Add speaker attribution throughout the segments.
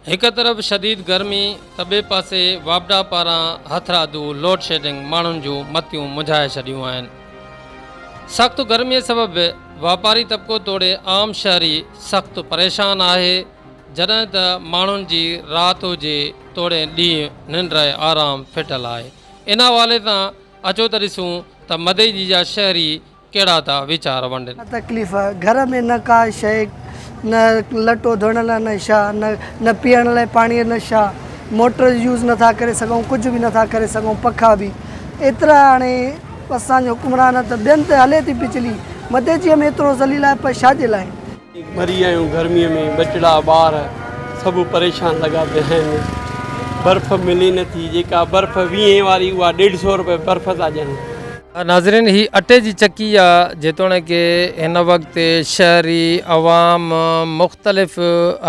Speaker 1: هڪ طرف شديد گرمي ته ٻئي پاسي واپڊا پاران هٿرادو لوڊ شيڊنگ ماڻهن جون متيون منجهائي ڇڏيون آهن. سخت گرمي سبب واپاري طبقو توڙي عام شهري سخت پريشان آهي جڏهن ته ماڻهن جي رات هجي توڙي ڏينهن ننڊ ۽ آرام ڦٽل آهي. ان حوالي سان اچو ته ڏسون ته مدئجي جا شهري ڪهڙا ٿا ويچار ونڊن. تڪليف گهر
Speaker 2: ۾ نه ڪا شيء نه لٽو ڌوئڻ لاء نه شاهه نه نه پيئڻ لاء پاڻيء نه شاهه موٽر يوز نه ٿا ڪري سگهون ڪجهه به نه ٿا ڪري سگهون پکا به ايترا هاڻي اسان جو حڪمران ته ٻين تي هلي ٿي بجلي مدي جي هم ايترو ذليل آهي پر شاجي لاء ڀري آيون
Speaker 3: گرميء ۾ ٻچڙا ٻار سڀ پريشان لڳا پيا آهن برف ملي نه ٿي جيڪا برف ويهين واري اها ڏيڍ سئو روپيه برف ٿا ڏين. ناظرين هي
Speaker 1: اٽي جي چڪي آ جيتوڻيڪ هن وقت شهري عوام مختلف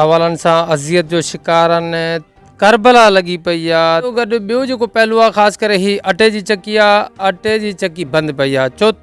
Speaker 1: حوالن سان اذيت جو شڪار آهن ڪربلا لڳي پئي آ گڏ ٻيو جيڪو پهلو آ خاص ڪري هي اٽي جي چڪي آ اٽي جي چڪي بند پئي آ چوٿ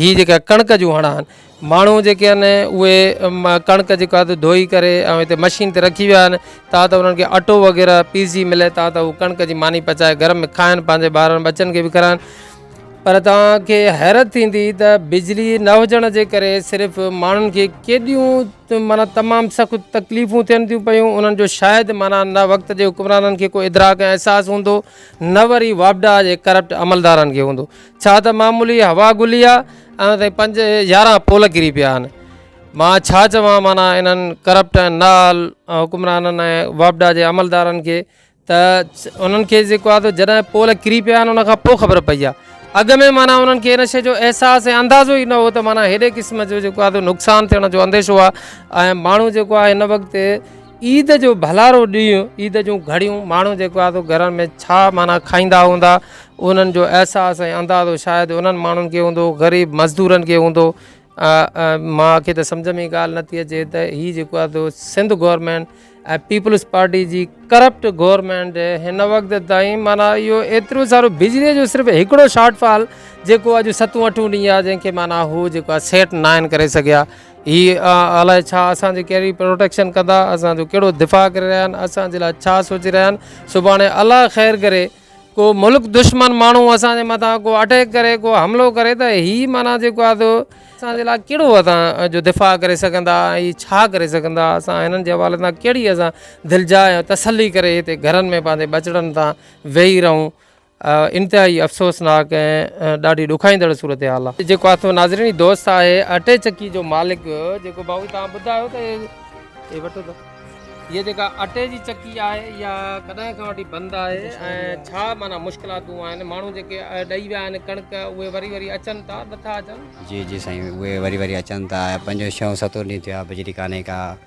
Speaker 1: هي جيڪا ڪڻڪ جون هڻا آهن ماڻهو جيڪي آهن اهي ڪڻڪ جيڪا آهي ڌوئي ڪري ۽ هتي مشين تي رکي ويا آهن تا ته انهن کي اٽو وغيره پيسجي ملي تا ته هو ڪڻڪ جي ماني پچائي گهر ۾ کائن پنهنجي ٻارن ٻچن کي به کارائن پر توهان کي حيرت ٿيندي ته بجلي نه هجڻ جي ڪري صرف ماڻهن کي ڪيڏيون مانا تمام سخت تڪليفون ٿين ٿيون پيون انهن جو شايد مانا نه وقت جي حڪمرانن کي ڪو ادراڪ ۽ احساس هوندو نه وري واپڊا جي ڪرپٽ عملدارن کي هوندو ڇا ته معمولي هوا گلي آ ۽ تائين پنج يارهن پول ڪري پيا آهن مان ڇا چوان معنيٰ انهن ڪرپٽ ۽ نال حڪمرانن ۽ واپڊا جي عملدارن کي ته انهن کي جيڪو آ تو جڏهن پول ڪري پيا آهن ان کان پوء خبر پئي آ اڳ ۾ معنيٰ انهن کي ان شي جو احساس ۽ اندازو ئي نه هو ته معنيٰ هيڏي قسم جو جيڪو آ تو نقصان ٿيڻ جو انديشو آ ۽ ماڻهو جيڪو آ هن وقت عيد جو ڀلارو ڏينهن عيد جون گهڙيون ماڻهو جيڪو آهي سو گهرن ۾ ڇا معنيٰ کائيندا هوندا انهن جو احساس ۽ اندازو شايد انهن ماڻهن کي هوندو غريب مزدورن کي هوندو مان کي ته سمجھ ۾ ڳالهه نٿي اچي ته هي جيڪو آهي سو سنڌ گورنمينٽ ۽ پيپلز پارٽي جي ڪرپٽ گورنمينٽ هن وقت تائين معنی اهو ايترو سارو بجلي جو صرف هڪڙو شارٽ فال جيڪو اڄ ستون اٺون ڏينهن آهي جنهن کي معنی هو جيڪو آهي سيٽ ناهن ڪري سگهيا هي الائي ڇا اسان جي ڪهڙي پروٽيڪشن ڪندا اسان جو ڪهڙو دفاع ڪري رهيا آهن اسان جي لاء ڇا سوچي رهيا آهن سڀاڻي الله خير ڪري ڪو ملڪ دشمن ماڻهو اسان جي مٿان ڪو اٽيڪ ڪري ڪو حملو ڪري ته هي معنيٰ جيڪو آ تو اسان جي لاء ڪهڙو اسان جو دفاع ڪري سگهندا ۽ ڇا ڪري سگهندا اسان هنن جي حوالي سان ڪهڙي اسان دلجاء ۽ تسلي ڪري هتي گهرن ۾ پنهنجي ٻچڙن تان ويهي رهون انتهائي افسوسناڪ ۽ ڏاڍي ڏکائيندڙ صورتحال آ. جيڪو آٿو ناظرين هي دوست آهي اٽي چڪي جو مالڪ جيڪو بابو توهان ٻڌايو ته هي وٺو ته هي جيڪا اٽي جي چڪي آهي اها ڪڏهن کان وٺي بند آهي ۽ ڇا معنيٰ مشڪلاتون آهن ماڻهو جيڪي ڏئي ويا آهن ڪڻڪ اهي وري وري اچن ٿا نٿا اچن. جي جي سائين اهي
Speaker 4: وري وري اچن ٿا پنجون ڇهون ستون ڏينهن ٿيو آهي بجلي ڪانهي ڪا.